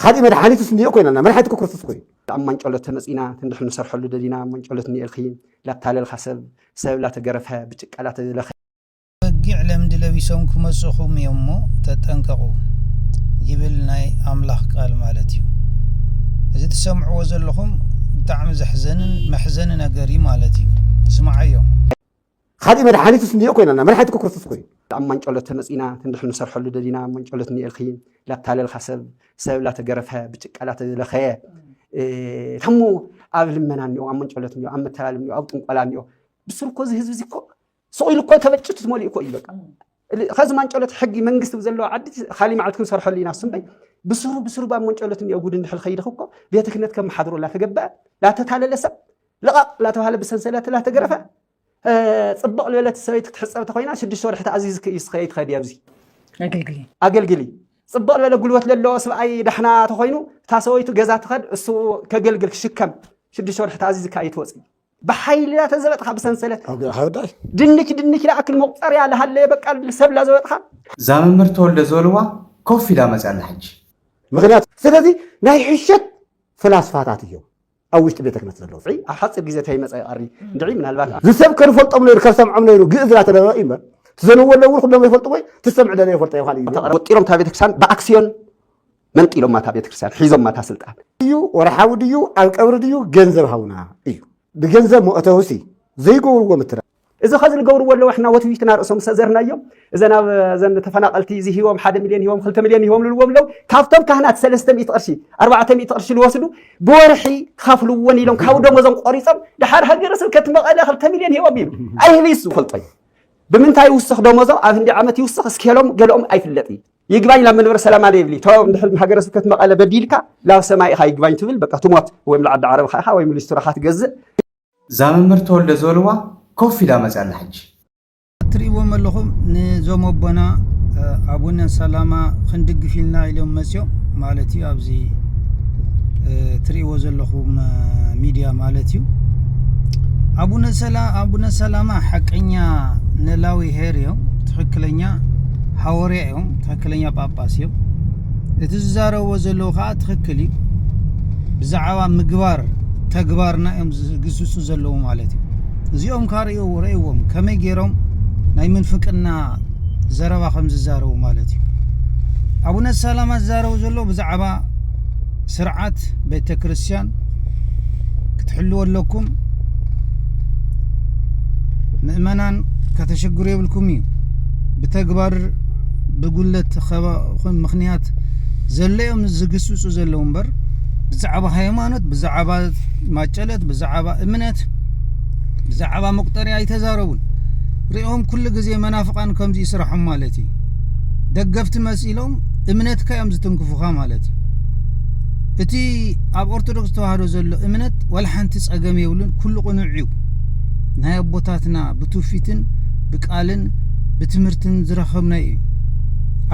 ካልእ መድሓኒትስ እንድዮ ኮይና ኣላ መድሓኒት ክርስቶስ ኮይኑ ኣብ ማንጨሎት ተመፂና ክንዲ ክንሰርሐሉ ደሊና ማንጨሎት እኒኤልኪ ላታለልካ ሰብ ሰብ ላተገረፈ ብጭቃ ላተለኸ በጊዕ ለምዲ ለቢሶም ክመፁኹም እዮም እሞ ተጠንቀቑ ይብል ናይ ኣምላኽ ቃል ማለት እዩ እዚ ትሰምዕዎ ዘለኹም ብጣዕሚ ዘሕዘንን መሕዘኒ ነገር እዩ ማለት እዩ ስምዓዮ ኻሊእ መድሓኒትስ እንድዮ ኮይናና መድሓኒት እኮ ክርስቶስ ኮይኑ ኣብ ማንጨሎት ተመጺና ክንድሕን ንሰርሐሉ ደሊና ኣብ ማንጨሎት እኒኤልኺ ላታለልኻ ሰብ ሰብ ላተገረፈ ብጭቃ ላተለኸየ ታሞ ኣብ ልመና እኒኦ ኣብ መንጨሎት እኒኦ ኣብ መተላል እኒኦ ኣብ ጥንቆላ እኒኦ ብስሩ እኮ እዚ ህዝቢ እዚ እኮ ስቕ ኢሉ እኮ ተበጭቱ ትመሊኡ እኮ እዩ በቃ ኸዚ ማንጨሎት ሕጊ መንግስቲ ብዘለዎ ዓዲ ካሊእ መዓልቲ ክንሰርሐሉ ኢና ስምበይ ብስሩ ብስሩ ብ መንጨሎት እኒኦ ጉድ እንድሕል ኸይድኽ እኮ ቤተ ክህነት ከመሓድሮ ላተገበአ ላተታለለ ሰብ ልቓቕ ላተባህለ ብሰንሰለት ላተገረፈ ፅብቕ ልበለት ሰበይት ክትሕፀብ ተኮይና ሽዱሽተ ወርሒ ተኣዚዝክ እዩ ስኸ ይትኸዲ ኣብዚ ኣገልግሊ ፅብቕ ልበለ ጉልበት ለለዎ ስብኣይ ዳሕና ተኮይኑ እታ ሰበይቱ ገዛ ትኸድ እሱ ከገልግል ክሽከም ሽዱሽተ ወርሒ ተኣዚዝካ እዩ ትወፅእ ብሓይሊ ዳ ተዘበጥኻ ብሰንሰለት ኣብ ሃዳይ ድንች ድንች ላኣክል መቁፀርያ ልሃለየ በቃ ሰብ ላዘበጥኻ እዛ መምህር ተወልደ ዝበልዋ ኮፍ ኢላ መፅያ ኣላ ሕጂ ምክንያት ስለዚ ናይ ሕሸት ፍላስፋታት እዮም ኣብ ውሽጢ ቤተ ክነት ዘለዉ ፅይ ኣብ ሓፂር ግዜ ተይመፀ ይቐሪ እንድዒ ምናልባት ዝሰብ ከንፈልጦም ነይሩ ከሰምዖም ነይሩ ግእዝ ላተደረቐ እዩ እምበር ትዘንዎ ኣለውን ኩሎም ይፈልጡ ወይ ትሰምዕ ደለ ይፈልጠ ይኳል እዩ ወጢሮም እታ ቤተክርስትያን ብኣክስዮን መንጢሎማ እታ ቤተክርስትያን ሒዞማ እታ ስልጣን እዩ ወርሓዊ ድዩ ኣብ ቀብሪ ድዩ ገንዘብ ሃውና እዩ ብገንዘብ መእተውሲ ዘይገብርዎ ምትራ እዚ ከዚ ንገብርዎ ኣለዎ ሕና ወትዊትና ርእሶም ሰዘርናዮም እዘን ኣብ ዘን ተፈናቀልቲ እዚ ሂቦም ሓደ ሚልዮን ሂቦም ክልተ ሚልዮን ሂቦም ልልዎም ኣለው ካብቶም ካህናት ሰለስተ ሚእቲ ቅርሺ ኣርባዕተ ሚእቲ ቅርሺ ዝወስዱ ብወርሒ ክኸፍልዎን ኢሎም ካብ ደሞዞም ቆሪፆም ድሓር ሃገረ ስብከት መቐለ ክልተ ሚልዮን ሂቦም ይብል ኣይህብይስ ዝፈልጦ እዩ ብምንታይ ይውስኽ ደሞዞም ኣብ ህንዲ ዓመት ይውስኽ እስኬሎም ገለኦም ኣይፍለጥ እዩ ይግባኝ ላብ መንበረ ሰላማ ዶ ይብሊ ቶ እንድሕር ሃገረ ስብከት መቐለ በዲልካ ላብ ሰማይ ኢኻ ይግባኝ ትብል በቃ ትሞት ወይም ልዓዲ ዓረብኻ ኢኻ ወይም ሊስትሮኻ ትገዝእ እዛ መምህር ተወልደ ዝበልዋ ኮፍ ኢላ መፅያ ኣላ ሕጂ እትርእይዎም ኣለኹም ንዞም ኣቦና ኣቡነ ሰላማ ክንድግፍ ኢልና ኢሎም መፅዮም ማለት እዩ ኣብዚ ትርእይዎ ዘለኹም ሚድያ ማለት እዩ ኣቡነ ሰላማ ሓቀኛ ነላዊ ሄር እዮም ትክክለኛ ሓወርያ እዮም ትክክለኛ ጳጳስ እዮም እቲ ዝዛረብዎ ዘለዉ ከዓ ትክክል እዩ ብዛዕባ ምግባር ተግባርና እዮም ዝግስሱ ዘለዉ ማለት እዩ እዚኦም ካ ርእዎ ረእዎም ከመይ ገይሮም ናይ ምንፍቅና ዘረባ ከም ዝዛረቡ ማለት እዩ ኣቡነ ሰላማ ዝዛረቡ ዘሎ ብዛዕባ ስርዓት ቤተ ክርስትያን ክትሕልዎ ኣለኩም ምእመናን ከተሸግሩ የብልኩም እዩ ብተግባር ብጉለት ኸባኹን ምክንያት ዘለዮም ዝግስጹ ዘለዉ እምበር ብዛዕባ ሃይማኖት ብዛዕባ ማጨለት ብዛዕባ እምነት ብዛዕባ መቁጠርያ ኣይተዛረቡን ሪኦም ኩሉ ግዜ መናፍቃን ከምዚ ይስራሖም ማለት እዩ ደገፍቲ መሲሎም እምነትካ እዮም ዝትንክፉኻ ማለት እዩ እቲ ኣብ ኦርቶዶክስ ተዋህዶ ዘሎ እምነት ዋላ ሓንቲ ጸገም የብሉን ኩሉ ቅኑዕ እዩ ናይ ኣቦታትና ብትውፊትን ቃልን ብትምህርትን ዝረኸብናዮ እዩ።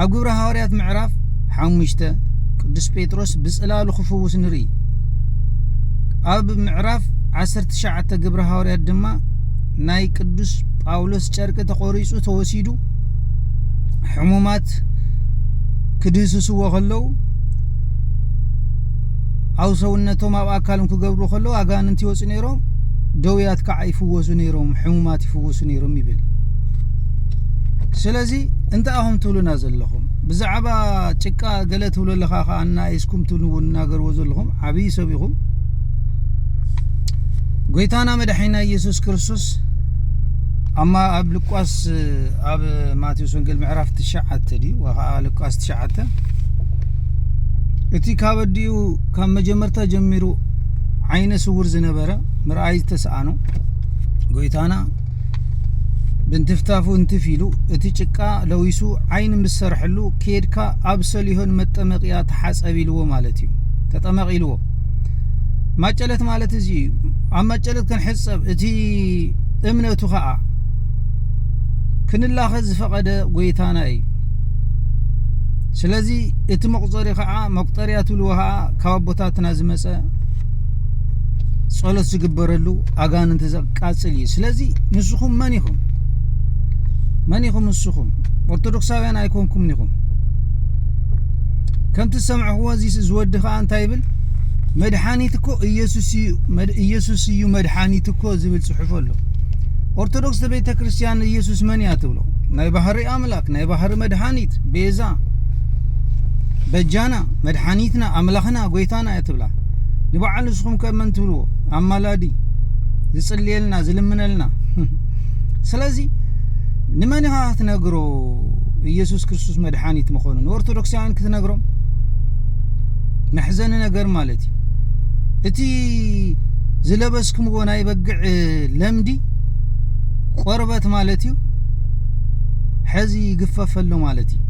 ኣብ ግብሪ ሃዋርያት ምዕራፍ ሓሙሽተ ቅዱስ ጴጥሮስ ብጽላሉ ክፍውስ ንርኢ። ኣብ ምዕራፍ ዓሰርተ ትሽዓተ ግብሪ ሃዋርያት ድማ ናይ ቅዱስ ጳውሎስ ጨርቂ ተቖሪጹ ተወሲዱ ሕሙማት ክድህስስዎ ከለዉ ኣብ ሰውነቶም ኣብ ኣካሎም ክገብሩ ከለዉ ኣጋንንቲ ይወፁ ነይሮም ደውያት ከዓ ይፍወሱ ነይሮም ሕሙማት ክፍውሱ ነይሮም ይብል ስለዚ እንታይ ኣኹም ትብሉና ዘለኹም ብዛዕባ ጭቃ ገለ ትብሉ ኣለኻ ከዓ እናኢስኩም ትናገርዎ ዘለኹም ዓብዪ ሰብ ኢኹም ጎይታና መድሓይና ኢየሱስ ክርስቶስ ኣማ ኣብ ልቋስ ኣብ ማቴዎስ ወንጌል ምዕራፍ ትሽዓተ ድዩ ከዓ ልቋስ ትሽዓተ እቲ ካብ ኣዲኡ ካብ መጀመርታ ጀሚሩ ዓይነ ስውር ዝነበረ ምርኣይ ዝተሰኣኖ ጎይታና ብንትፍታፉ እንትፍ ኢሉ እቲ ጭቃ ለዊሱ ዓይን ምስ ሰርሐሉ ኬድካ ኣብ ሰሊሆን መጠመቅያ ተሓጸብ ኢልዎ ማለት እዩ ተጠመቅ ኢልዎ ማጨለት ማለት እዚ እዩ ኣብ ማጨለት ክንሕጸብ እቲ እምነቱ ከዓ ክንላኸ ዝፈቐደ ጎይታና እዩ ስለዚ እቲ መቁፀሪ ከዓ መቁጠርያ ትብልዎ ከዓ ካብ ኣቦታትና ዝመፀ ጸሎት ዝግበረሉ ኣጋንንቲ ዘቃጽል እዩ ስለዚ ንስኹም መን ኢኹም መን ኢኹም ንስኹም ኦርቶዶክሳውያን ኣይኮንኩምን ኢኹም ከምቲ ዝሰምዕኽዎ እዚ ዝወዲ ከዓ እንታይ ይብል መድሓኒት እኮ ኢየሱስ እዩ መድሓኒት እኮ ዝብል ፅሑፍ ኣሎ ኦርቶዶክስ ቤተ ክርስቲያን ኢየሱስ መን እያ ትብሎ ናይ ባህሪ ኣምላክ ናይ ባህሪ መድሓኒት ቤዛ በጃና መድሓኒትና ኣምላኽና ጎይታና እያ ትብላ ንበዓል ንስኹም ከ መን ትብልዎ ኣማላዲ ዝጽልየልና ዝልምነልና ስለዚ ንመን ኢኻ ክትነግሮ ኢየሱስ ክርስቶስ መድሓኒት ምኾኑ ንኦርቶዶክሳውያን ክትነግሮም መሕዘኒ ነገር ማለት እዩ እቲ ዝለበስክምዎ ናይ በግዕ ለምዲ ቆርበት ማለት እዩ ሕዚ ይግፈፈሉ ማለት እዩ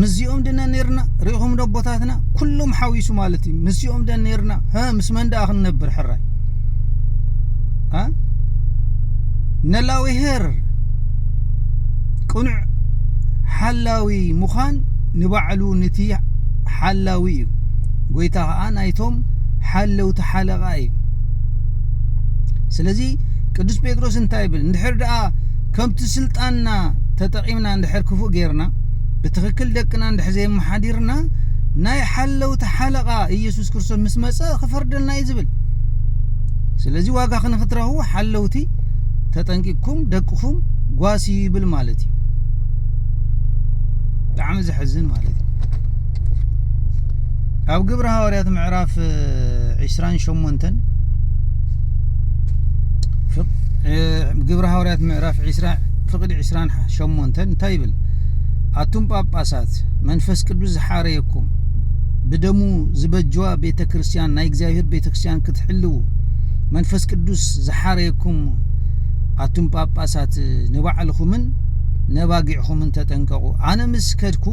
ምስዚኦም ድነ ነርና ሪኢኹም ዶ ኣቦታትና ኩሎም ሓዊሱ ማለት እዩ ምስኦም ደን ነርና ሀ ምስ መን ደኣ ክንነብር ሕራይ ነላዊሄር ቅኑዕ ሓላዊ ምዃን ንባዕሉ ንቲ ሓላዊ እዩ ጎይታ ከዓ ናይቶም ሓለውቲ ሓለቓ እዩ ስለዚ ቅዱስ ጴጥሮስ እንታይ ይብል እንድሕር ደኣ ከምቲ ስልጣንና ተጠቂ ተጠቂምና እንድሕር ክፉእ ጌርና ብትክክል ደቅና እንድሕር ዘየመሓዲርና ናይ ሓለውቲ ሓለቓ ኢየሱስ ክርስቶስ ምስ መጸ ክፈርደልና እዩ ዝብል ስለዚ ዋጋ ክንክትረኽቡ ሓለውቲ ተጠንቂቅኩም ደቅኹም ጓሲ ይብል ማለት እዩ ብጣዕሚ ዘሕዝን ማለት እዩ ኣብ ግብረ ሃዋርያት ምዕራፍ 28 ግብረ ሃዋርያት ምዕራፍ ዒስራ ፍቕዲ ዒስራን ሸሞንተን እንታይ ይብል? ኣቱም ጳጳሳት መንፈስ ቅዱስ ዝሓረየኩም ብደሙ ዝበጅዋ ቤተ ክርስቲያን ናይ እግዚኣብሔር ቤተ ክርስቲያን ክትሕልው መንፈስ ቅዱስ ዝሓረየኩም ኣቱም ጳጳሳት ንባዕልኹምን ነባጊዕኹምን ተጠንቀቑ ኣነ ምስ ከድኩ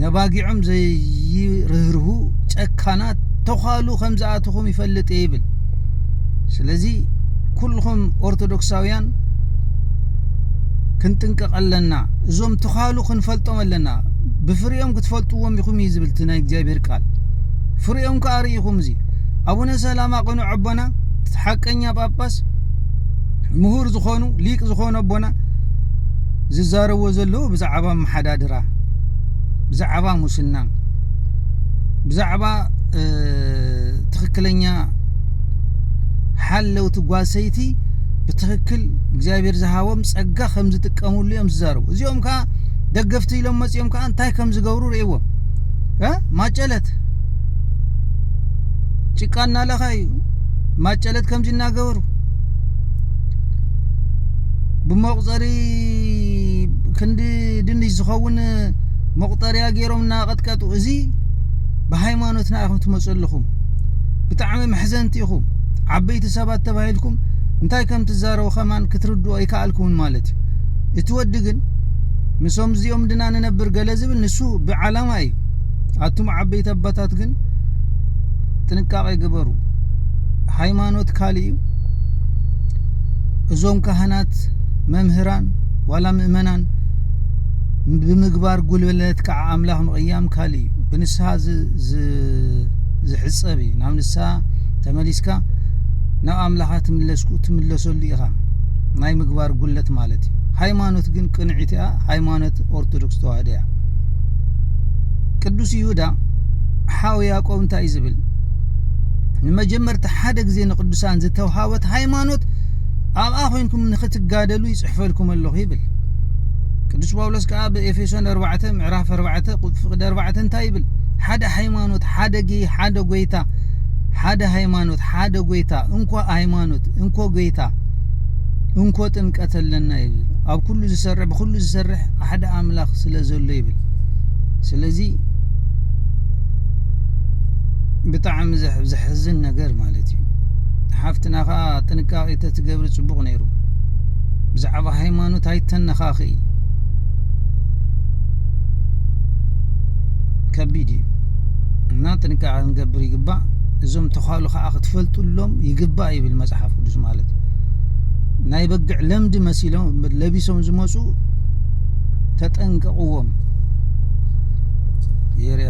ነባጊዖም ዘይርህርሁ ጨካናት ተዃሉ ከም ዝኣትኹም ይፈልጥ ይብል ስለዚ ኩልኹም ኦርቶዶክሳውያን ክንጥንቀቕ ኣለና እዞም ተዃሉ ክንፈልጦም ኣለና ብፍሪኦም ክትፈልጥዎም ኢኹም እዩ ዝብል እቲ ናይ እግዚኣብሔር ቃል ፍሪኦም ከዓ ርኢኹም እዚ ኣቡነ ሰላማ ቅኑ ኣቦና ሓቀኛ ጳጳስ ምሁር ዝኾኑ ሊቅ ዝኾኑ ኣቦና ዝዛረብዎ ዘለዎ ብዛዕባ መሓዳድራ ብዛዕባ ሙስና ብዛዕባ ትክክለኛ ሓለውቲ ጓል ሰይቲ ብትክክል እግዚኣብሔር ዝሃቦም ጸጋ ከም ዝጥቀምሉ እዮም ዝዛረቡ እዚኦም ከዓ ደገፍቲ ኢሎም መጺኦም ከዓ እንታይ ከም ዝገብሩ ርእዎም እ ማጨለት ጭቃ እናለኸ እዩ ማጨለት ከምዚ እናገበሩ ብመቁፀሪ ክንዲ ድንሽ ዝኸውን መቁጠርያ ገይሮም እናቀጥቀጡ እዚ ብሃይማኖትና ኢኹም ትመጹ ኣለኹም ብጣዕሚ መሕዘንቲ ኢኹም ዓበይቲ ሰባት ተባሂልኩም እንታይ ከም ትዛረቡ ከማን ክትርድኡ ኣይከኣልኩምን ማለት እዩ እቲ ወዲ ግን ምሶም እዚኦም ድና ንነብር ገለ ዝብል ንሱ ብዓላማ እዩ ኣቱም ዓበይቲ ኣባታት ግን ጥንቃቄ ግበሩ ሃይማኖት ካልእ እዩ እዞም ካህናት መምህራን ዋላ ምእመናን ብምግባር ጉልበት ከዓ ኣምላኽ ምቕያም ካልእ እዩ ብንስሃ ዝሕጸብ እዩ ናብ ንስሃ ተመሊስካ ናብ ኣምላኻ ትምለስኩ ትምለሰሉ ኢኻ ናይ ምግባር ጉለት ማለት እዩ ሃይማኖት ግን ቅንዒት እያ ሃይማኖት ኦርቶዶክስ ተዋህዶ እያ ቅዱስ ይሁዳ ሓው ያዕቆብ እንታይ እዩ ዝብል ንመጀመርታ ሓደ ግዜ ንቅዱሳን ዝተውሃበት ሃይማኖት ኣብኣ ኮንኩም ንክትጋደሉ ይጽሕፈልኩም ኣለኹ ይብል ቅዱስ ጳውሎስ ከዓ ብኤፌሶን 4 ምዕራፍ 4 ፍቅድ 4 እንታይ ይብል? ሓደ ሃይማኖት፣ ሓደ ጌ፣ ሓደ ጎይታ፣ ሓደ ሃይማኖት፣ ሓደ ጎይታ፣ እንኮ ሃይማኖት፣ እንኮ ጎይታ፣ እንኮ ጥምቀት ኣለና ይብል። ኣብ ኩሉ ዝሰርሕ ብኩሉ ዝሰርሕ ሓደ ኣምላኽ ስለ ዘሎ ይብል። ስለዚ ብጣዕሚ ዘሕዝን ነገር ማለት እዩ። ሓፍትና ከዓ ጥንቃቄ ተትገብሪ ጽቡቅ ነይሩ ብዛዕባ ብሃይማኖት ኣይተነኻኽኢ ከቢድ እዩ እና ጥንቃቐ ክንገብር ይግባእ እዞም ተዃሉ ከዓ ክትፈልጡሎም ይግባእ ይብል መፅሓፍ ቅዱስ ማለት እዩ ናይ በግዕ ለምዲ መሲሎም ለቢሶም ዝመፁ ተጠንቀቕዎም የርያ